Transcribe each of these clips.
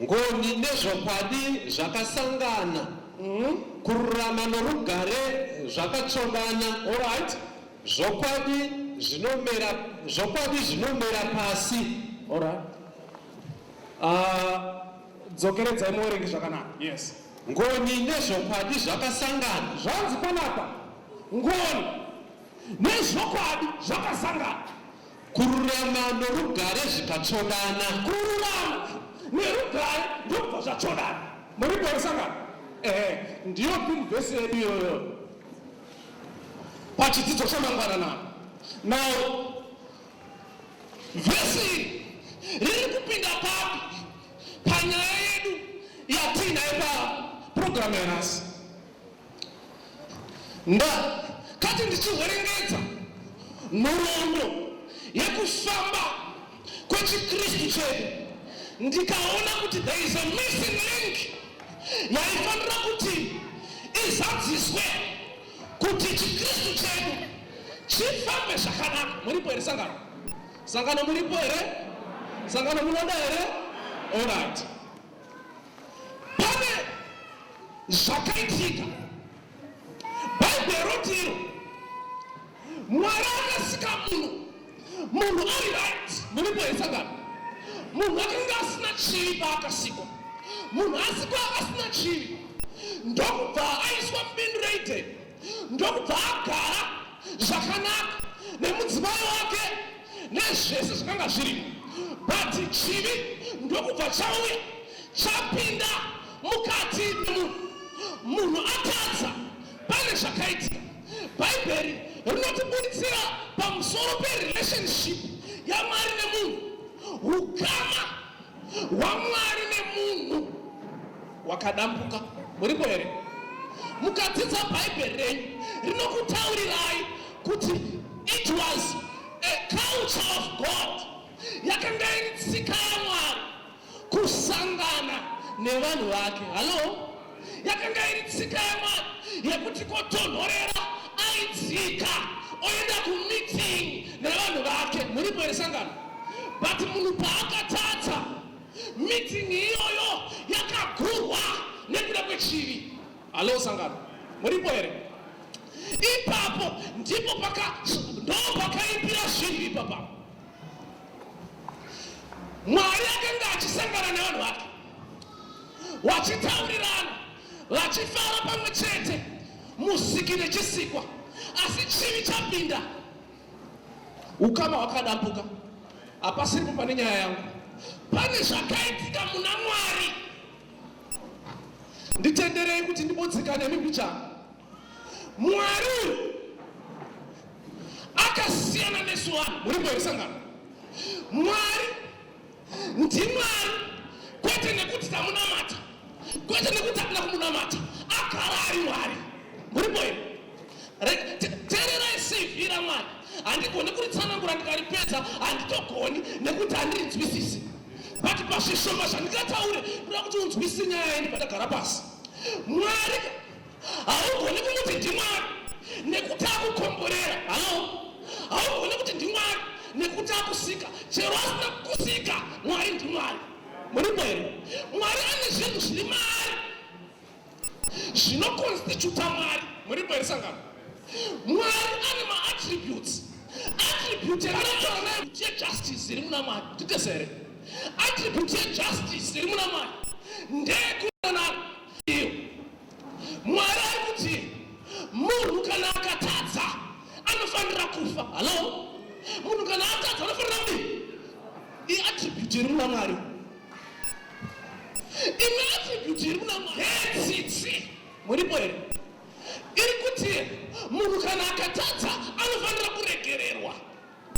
Ngoni nezvokwadi zvakasangana. Kururama norugare zvakatsvobana. Alright. Zvokwadi zvinomera zvokwadi zvinomera pasi. Alright. Ah, dzokeredzai muverengi zvakanaka. Yes. Ngoni nezvokwadi zvakasangana. Zvanzi panapa ngoni nezvokwadi zvakasangana. Kururama norugare zvikatsvodana. Kururama nerugare ndokubva zvatsvodana. Muripo resangano. Ehe, ndiyo pin verse yedu iyoyo pachidzidzo chamangwana na now vhesi riri kupinda papi panyaya yedu yatiinayo paprogramu yanhasi ndakati ndichihwerengedza nhoroondo yekufamba kwechikristu chedu ndikaona kuti there is a missing link yaifanira kuti izadziswe kuti chikristu chedu chifambe zvakanaka muripo here sangano sangano muripo here sangano munoda here orit pane zvakaitika bhaibheri roti iro mwari akasika munhu munhu ari right muripo hesangano munhu akanga asina chivi paakasikwa munhu asikwa asina chivi ndokubva aiswa mubindu reideni ndokubva agara zvakanaka nemudzimai wake nezvese zvakanga zviri but chivi ndokubva chauya chapinda mukati memunhu munhu atadza pane zvakaitika bhaibheri rinotibuditsira pamusoro perelationship yamwari nemunhu ukama hwamwari nemunhu wakadambuka muripo here mukadzidza bhaibheri renyu rinokutaurirai kuti it was a culture of god yakanga iri tsika yamwari kusangana nevanhu vake hallo yakanga iri tsika yamwari yekuti kotonhorera aidzika oenda kumeeting nevanhu vake muripo here sangano but munhu paakatadza Meeting iyoyo yakagurwa nekuda kwechivi. Halo sangano, muripo here? Ipapo ndipo paka ndopakaipira zvinhu ipapa. Mwari akanga achisangana nevanhu vake wachitaurirana vachifara pamwe chete musiki nechisikwa asi chivi chapinda Ukama hwakadambuka, hapasipo pane nyaya yangu. Pane zvakaitika muna Mwari, nditenderei kuti ndibodzikane nembichana. Mwari akasiyana nesu vanhu, muri kuerisangana Mwari ndimwari kwete nekuti tamunamata kwete nekuti akuna kumunamata agara ari mwari muripo iri tererai cv ramwari handigoni kuritsanangura ndikaripedza handitogoni nekuti handirinzwisisi but pazvishoma zvandingataure kuda kuti unzwisise nyaya yedu padagara pasi mwari haugoni kumuti ndimwari nekuti akukomborera halo haugoni kuti ndimwari nekuti akusika chero asina kusika mwari ndimwari muri mwene mwari ane zvinhu zviri maari zvinokonstituta mwari muri mwene sangano mwari ane maattributes attribute raaaatie justice iri muna mwari titesere attribute yejustice iri muna mwari ndeyekuonana iyo Mwari ari kuti munhu kana akatadza anofanira kufa. Halo, munhu kana atadza anofanira kuti iattribute iri muna Mwari, imwe attribute iri muna Mwari hetsitsi. Muripo here? Iri kuti munhu kana akatadza anofanira kuregererwa.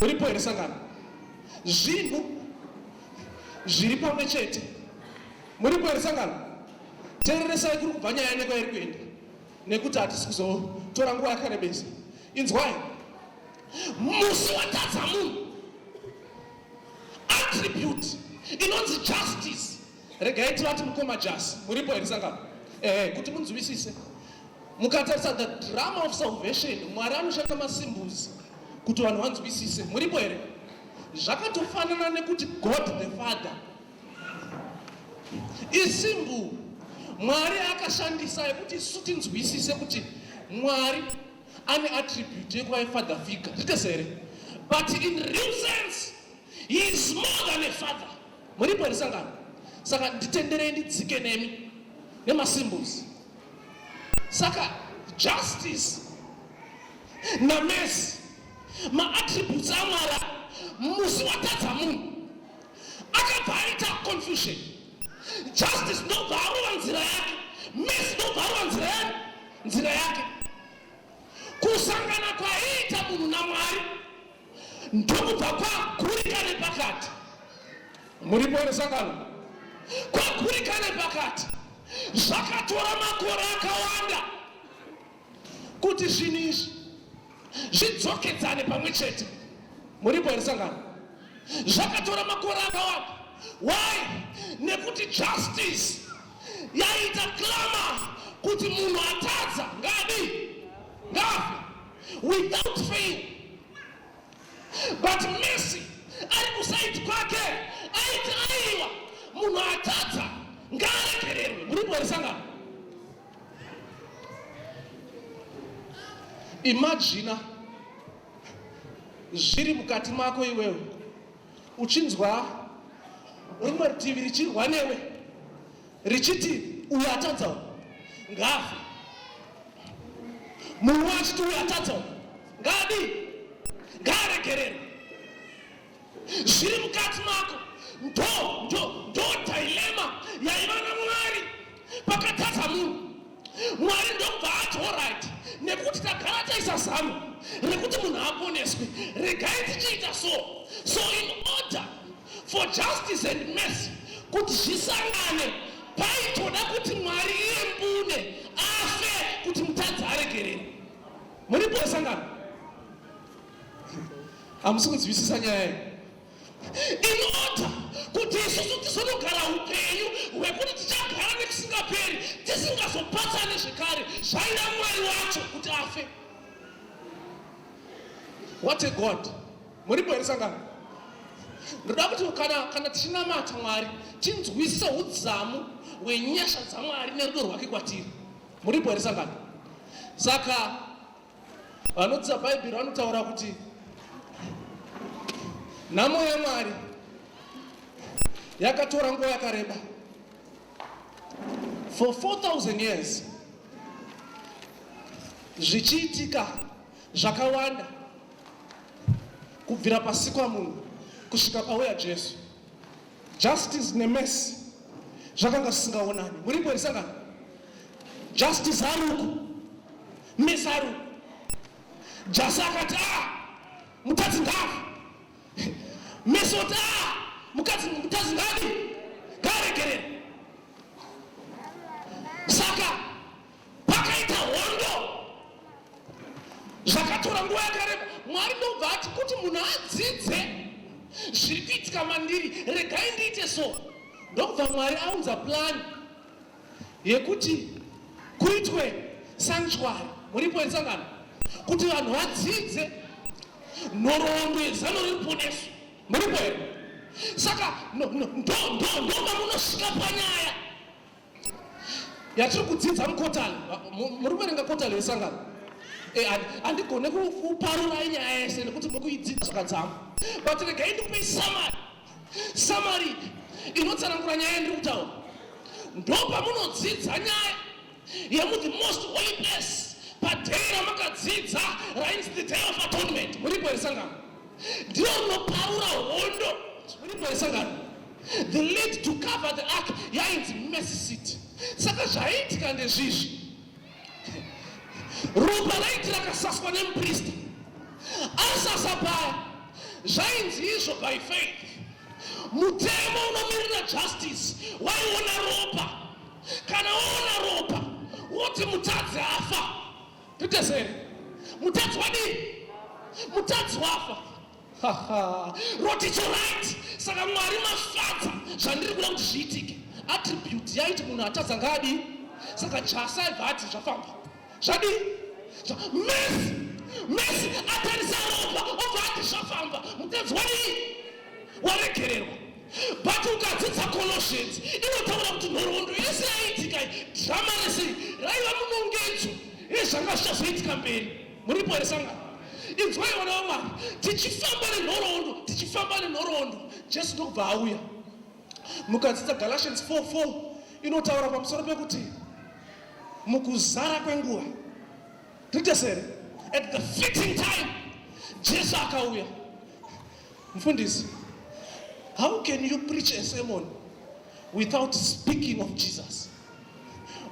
Muripo here sangano? Zvinhu zviri pamwe chete. Muripo here sangano? Tereresai kuri kubva nyaya neko iri kuenda nekuti hatisi kuzotora nguva yakarebesa. Inzwai, musi watadza munhu attribute inonzi justice Regai tivati mukoma Jasi, muripo here sangano? Ehe, kuti munzwisise. Mukatarisa the drama of salvation, Mwari anoshanda masimbuzi kuti vanhu vanzwisise. Muripo here? Zvakatofanana nekuti God the Father isimbu Mwari akashandisa yekuti isu tinzwisise kuti Mwari ane attribute yekuva yefather figure. Zvitese here? But in real sense, he is more than a father. Muripo here sangano? Saka nditenderei ndidzike nemi nemasymbols. Saka justice namercy maattributes amwari musi watadza munhu akabva aita confusion justice ndobva arova nzira yake mercy ndobva arova nzira yake nzira yake kusangana kwaiita munhu namwari ndokubva kwagurika nepakati muripo resangano kwagurika nepakati zvakatora makore akawanda kuti zvinhu izvi zvidzokedzane pamwe chete muripo resangano zvakatora makore akawanda why nekuti justice yaita clama kuti munhu atadza ngadi ngafe without fail but Messi ari kusaidi kwake aiti aiwa munhu atadza ngaaregererwe muri kueresangana imajina zviri mukati mako iwewe uchinzwa rimwe rutivi richirwa newe richiti uyo atadza uyo ngaafe munhu achiti uyo atadza uyo ngaadi ngaaregerere zviri mukati mako ndo ndo ndo dilema yaiva namwari pakatadza munhu Mwari ndobva ati orit nekuti tagara taisa zano rekuti munhu aponeswe regai tichiita so so in order for justice and mercy kuti zvisangane paitoda kuti mwari iye mbune afe kuti mutadzi aregerere muripo sangano hamusi kunzwisisa nyaya iyi Ndinoda kuti isusu tizonogara upenyu hwekuti tichagara nekusingaperi tisingazopatsane zvekare zvaida mwari wacho kuti afe. What a God! Muripo here sangano? Ndoda kuti kana, kana tichinamata Mwari tinzwisise udzamu hwenyasha dzaMwari nerudo rwake kwatiri. Muripo here sangano? Saka Vanodzidza Bhaibheri vanotaura kuti nhamo yaMwari yakatora nguva yakareba for 4000 years zvichiitika zvakawanda kubvira pasikwa munhu kusvika pauya jesu justice nemesi zvakanga zvisingaonani muripo risangana justice haruku Misaru Jasi akati ah, mukadzi ngafa. Misi kuti ah, mukadzi mukadzi ngadi ngaregerere. Saka pakaita hondo zvakatora nguva yakareba. Mwari ndobva ati kuti munhu adzidze zviri kuitika mandiri, regai ndiite so. Ndobva Mwari aunza plani yekuti kuitwe sanctuary muripo yesangano kuti vanhu vadzidze nhoroondo yezano reruponeso muripo here saka ndomamunosvika panyaya yatiri kudzidza mukotani muri kuverenga kotani yesangano eh, handigone kuparurai nyaya yese nekuti muri kuidzidza zvakadzama but regai ndipei samari Samari inotsanangura nyaya yandiri kutaura ndopamunodzidza nyaya yemu the most holy place padhei ramakadzidza rainzi the day of atonement muripo here sangano ndiro rinoparura hondo muripo here sangano the lead to cover the ark yainzi mercy city saka zvaiitika ndezvizvi Ropa raiti rakasaswa nemupristi asasa paya zvainzi izvo by faith mutemo unomirira justice waiona ropa kana waona ropa woti mutadzi afa titesere mutadzi wadii mutadzi wafa roticha right saka mwari mafadza zvandiri kuda kuti zviitike attribute yaiti munhu atadza ngaadi saka jasa ibva ati zvafamba zvadii mesi mesi atarisa ropa obva ati zvafamba mutadzi wadii waregererwa but ukadzidza colossians inotaura kuti nhoroondo yese yaiitika drama rese raiva munongedzo ezvanga zvichazoitika mberi Muripo here sangano? Inzwai vana vaMwari, tichifamba nenhoroondo, tichifamba nenhoroondo, Jesu ndokubva auya. Mukadzidza Galatians 4:4 inotaura pamusoro pekuti mukuzara kwenguva rite sere at the fitting time Jesu akauya. Mfundisi, how can you preach a sermon without speaking of Jesus?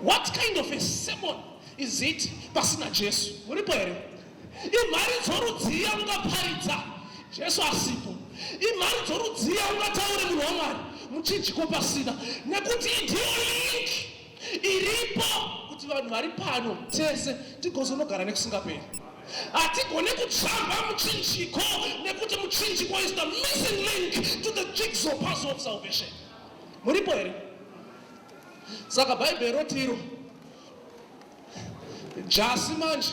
What kind of a sermon is it pasina Jesu? Muripo here? Imhari dzorudzii yaungaparidza Jesu asipo? Imhari dzorudzii yaungataure munhu waMwari muchinjiko pasina? Nekuti ndiyo link iripo kuti vanhu vari pano tese tigozonogara nekusingaperi hatigone kutsvamba muchinjiko nekuti muchinjiko is the missing link to the jigsaw puzzle of salvation muripo here saka bhaibheri rotiro jasi manje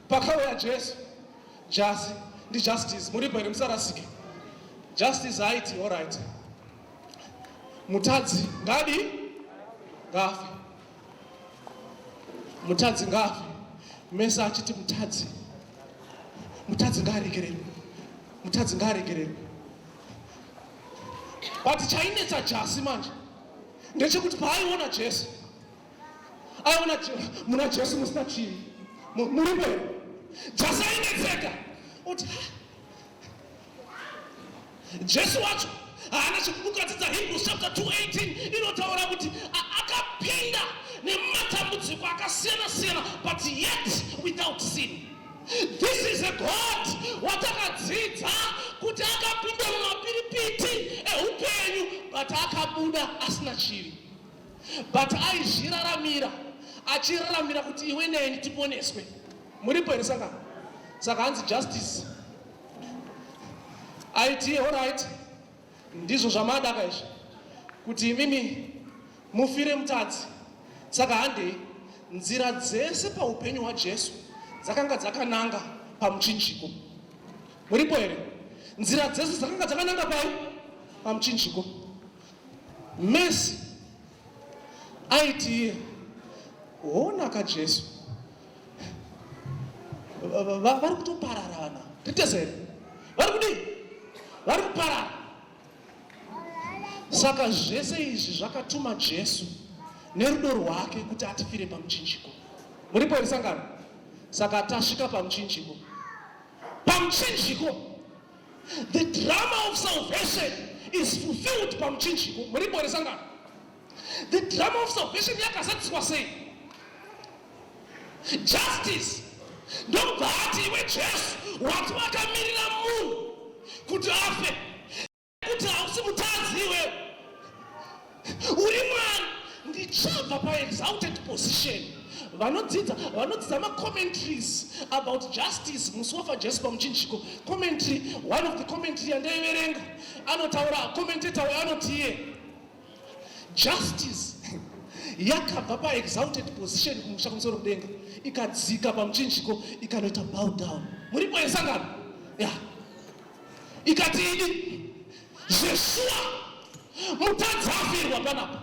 pakauya jesu jasi ndijustice muripo here musarasike justice haiti oright Mutadzi ngadi ngafe, mutadzi ngafe. Mese achiti mutadzi, mutadzi ngaaregererwe, mutadzi ngaaregererwe. But chainetsa Jasi manje ndechekuti paaiona Jesu aiona muna Jesu musina chii muripo here? Jasi ainetseka oti Jesu wacho haana chikukadzidza Hebrews chapter 2:18 inotaura kuti akapinda nematambudziko akasiyana siyana but yet without sin. This is a God watakadzidza kuti akapinda mumapiripiti ehupenyu but akabuda asina chivi but aizviraramira achiraramira kuti iwe neni tiponeswe. Muripo here sangano? Saka hanzi justice. IT all right. Ndizvo zvamadaka izvi. Kuti imimi mufire mutadzi. Saka handei nzira dzese paupenyu hwaJesu dzakanga dzakananga pamuchinjiko. Muripo here? Nzira dzese dzakanga dzakananga pai? Pamuchinjiko. Mercy Aiti iye, honaka Jesu, vari kutoparara vana ritesere vari kudii vari kuparara saka zvese izvi zvakatuma jesu nerudo rwake kuti atifire pamuchinjiko muripo here sangano saka tasvika pamuchinjiko pamuchinjiko The drama of salvation is fulfilled pamuchinjiko. Muripo here sangano? The drama of salvation yakazadziswa sei? Justice ndobva ati iwe Jesu wati wakamirira munhu kuti afe kuti hausi mutadzi iwewe Uri mwana ndichabva paexalted position vanodzidza vanodzidza macommentaries about justice musi wafa jesu pamuchinjiko commentary one of the commentary yandaiverenga anotaura commentator uyo anoti iye justice yakabva paexalted position kumusha kumusoro kudenga ikadzika pamuchinjiko ikanoita bow down muripo yesangano ya ikati idi Zveshuwa mutadzi afirwa panapa.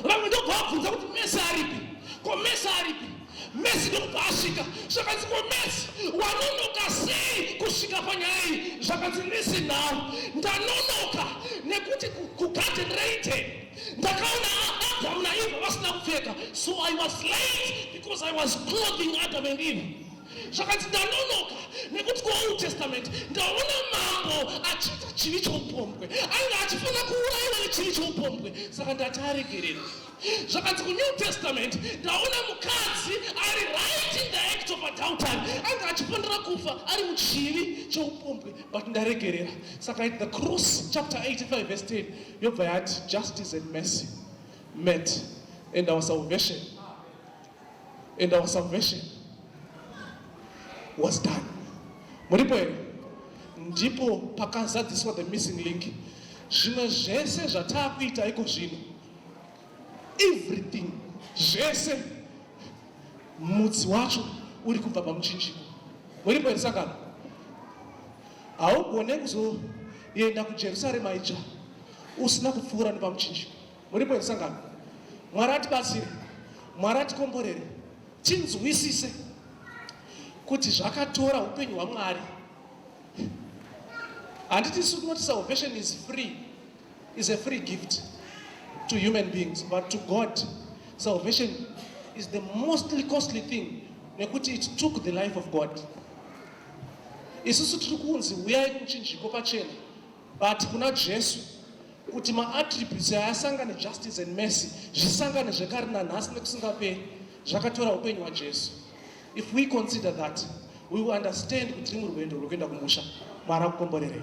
Vamwe ndobva vabvunza kuti Messi aripi? Ko Messi aripi? Messi ndokubva asvika. Zvakanzi ko Messi wanonoka sei kusvika panyaya iyi? Zvakanzi listen now. Ndanonoka nekuti kugarden reiten ndakaona Adam naEva vasina kupfeka so I was late because I was clothing Adam and Eve. Zvakati ndanonoka nekuti kuOld Testament ndaona mambo achiita chivi choupombwe. Ainge achifanira kuuraiwa nechivi choupombwe, saka ndati aregererwe. Zvakati kuNew Testament ndaona mukadzi ari right in the act of adultery. Ainge achifanira kufa ari muchivi choupombwe, but ndaregerera. Saka at the cross chapter 85 verse 10 yobva yati justice and mercy met and our salvation and our salvation was done. Muripo here? Ndipo pakazadziswa the missing link. Zvimwe zvese zvataakuita iko zvino, everything zvese, mudzi wacho uri kubva pamuchinjiko. Muripo here sakana? Haugone kuzoenda kuJerusarema itsva usina kupfuura nepamuchinjiko. muripo here sangano mwari atibatsire mwari atikomborere tinzwisise kuti zvakatora upenyu hwamwari handiti su tinoti salvation is free is a free gift to human beings but to god salvation is the mostly costly thing nekuti it took the life of god isusu tiri kunzi huyai kuchinjiko pachena But kuna Jesu kuti maattributes ayasangane justice and mercy zvisangane zvekare nanhasi nekusingaperi zvakatora upenyu hwajesu if we consider that we will understand kuti rimwe rwendo rwekuenda kumusha mwari akukomborerei